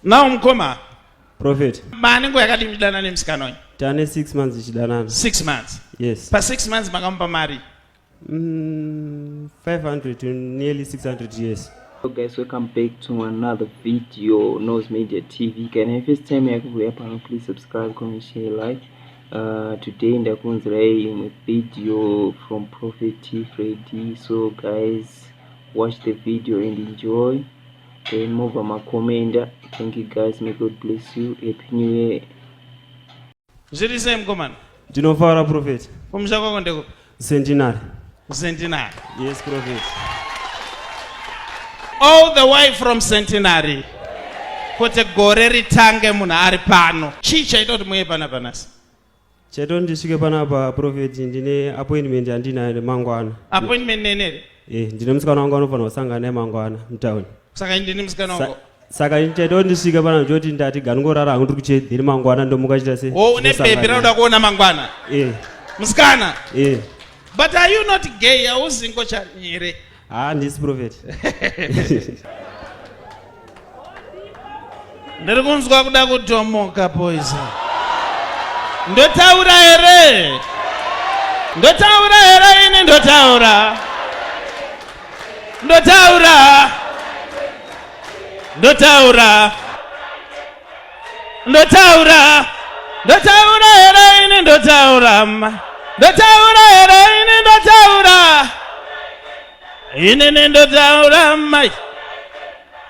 now mkoma prophet mane nguva yakati muchidana nemusikana uyu tane six months ichidanana six months yes pa six months makamupa mari mm, 500 to nearly 600 years So guys welcome back to another video nose media tv kana first time yakuuya pano please subscribe comment share like Uh, today ndakunzirai imwe video from prophet fredy so guys watch the video and enjoy then mobva makomenda thank you guys may god bless you happy new year zviri sei mukomana ndinofara profeti kumusha kwako ndekupi Centenary. Centenary. Yes, Prophet. All the way from Centenary. Kuti gore ritange munhu ari pano. Chii chaita kuti muye pana panasi? Chaito ndisvike panapa Prophet ndine appointment yandinayo nemangwana. Appointment nenere? Eh, ndine musikana wangu anofanira kusangana naye mangwana mutown. saka inde nemusikana wako saka ndichaita kuti ndisvike pano ndichoti ndati ganongorara hangu ndiri kuchedhiri mangwana ndomuka chita se oh, une bhebhi rauda kuona mangwana eh. musikana eh. but are you not gay hauzi ngochani here haa ah, ndisi profeti Ndiri kunzwa kuda kutomoka poison. Ndotaura here? Ndotaura here ini ndotaura? Ndotaura. Ndotaura. Ndotaura. Ndotaura here ini ndotaura? Ndotaura here ini ndotaura? Ine nendo taura mai.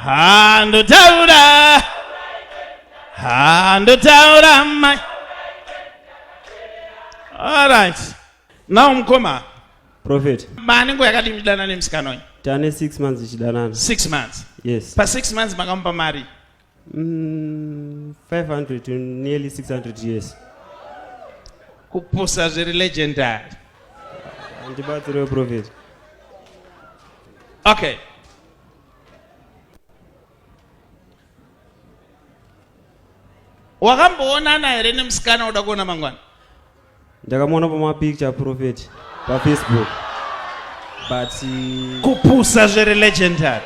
Ha ndo taura. Ha ndo taura mai. All right. Now mkoma. Prophet. Mani ngo yakati mdana nemsikana uyu. Tane 6 months ichidanana. 6 months. Yes. Pa 6 months makamupa mari. Mm, 500 to nearly 600 years. Kupusa zviri legendary. Ndibatsire prophet. Okay. wakamboonana here nemusikana uda kuona mangwana Ndakamuona pama picture prophet pa Facebook. But uh, kupusa zvere legendary.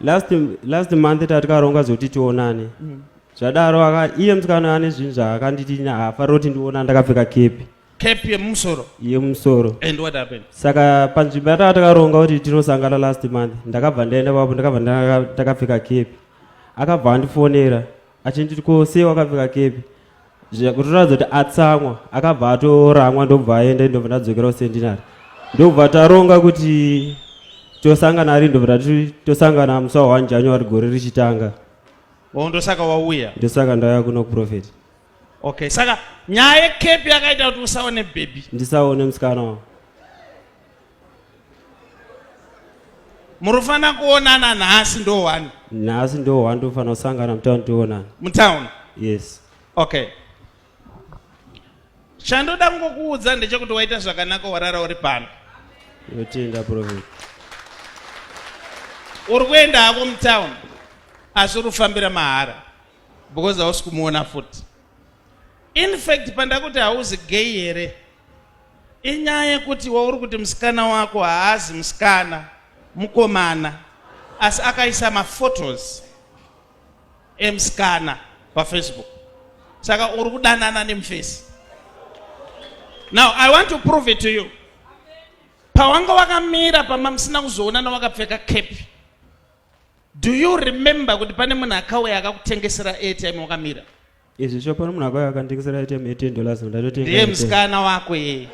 Last last month tatikaronga zoti tionane. Mm. Zvadaro aka iye msikana ane zvinhu zvaakanditi hafaroti ndiona ndakapfeka kepi. cap yemumusoro yemumusoro and what happened saka panzvimbo yataka takaronga kuti tinosangana last month ndakabva ndaenda papo ndakabva ndakapfeka cap akabva andifonera achinditi ko sei wakapfeka cap kutoratidza kuti atsamwa akabva atoramwa ndobva aenda ndobva ndadzokera kusendinari ndobva taronga kuti tosangana ari ndobva tati tosangana musi wa one january gore richitanga oh, ndosaka wauya ndosaka ndauya kuno kuprofeti okay saka nyaya yekepi yakaita kuti usaone bhebhi ndisaone musikana wa murifana kuonana nhasi ndo one nhasi ndo one tofanira kusangana mutown tionana mutown yes okay chandoda kungokuudza ndechekuti waita zvakanaka warara uri pano yotenda profet uri kuenda hako mutown asi uri kufambira mahara because hausi kumuona futi in fact pandakuti hauzi gay here inyaya yekuti wauri kuti musikana wako haazi musikana mukomana asi akaisa maphotos emusikana pafacebook saka uri kudanana nemufesi now i want to prove it to you pawanga wakamira pama musina kuzoonana wakapfeka kepi Do you remember kuti pane munhu akauya akakutengesera airtime wakamira? Izvi sho pane munhu akauya akanditekesera airtime ye 10 dollars ndatotenga. Ndiye musikana wako yeye.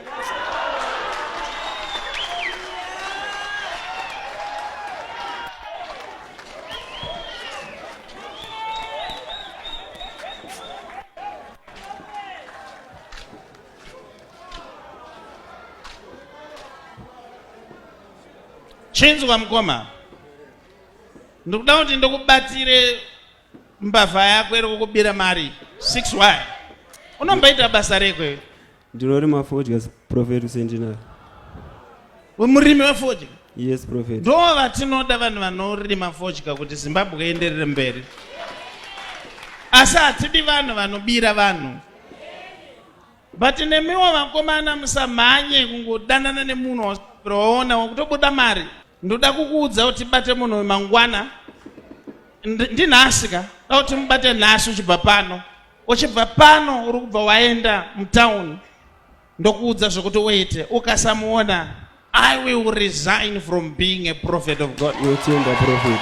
Chinzwa mkoma. ndikuda kuti ndikubatsire mbavha yako iri kukubira mari 6y unombaita basa rekwe ndinorima fodya profet sendinaro murimi wefodya yes profet ndo vatinoda vanhu vanorima fodya kuti zimbabwe ienderere mberi asi hatidi vanhu vanobira vanhu but nemiwo vakomana musamhanye kungodanana nemunhu waonawo kutobuda mari Ndoda kukuudza kuti bate munhu uyu mangwana. Ndinhasi ka? Ndoda kuti mubate nhasi uchibva pano. Uchibva pano uri kubva waenda mutown. Ndokuudza zvekuti uite. Ukasamuona I will resign from being a prophet of God. You're a prophet.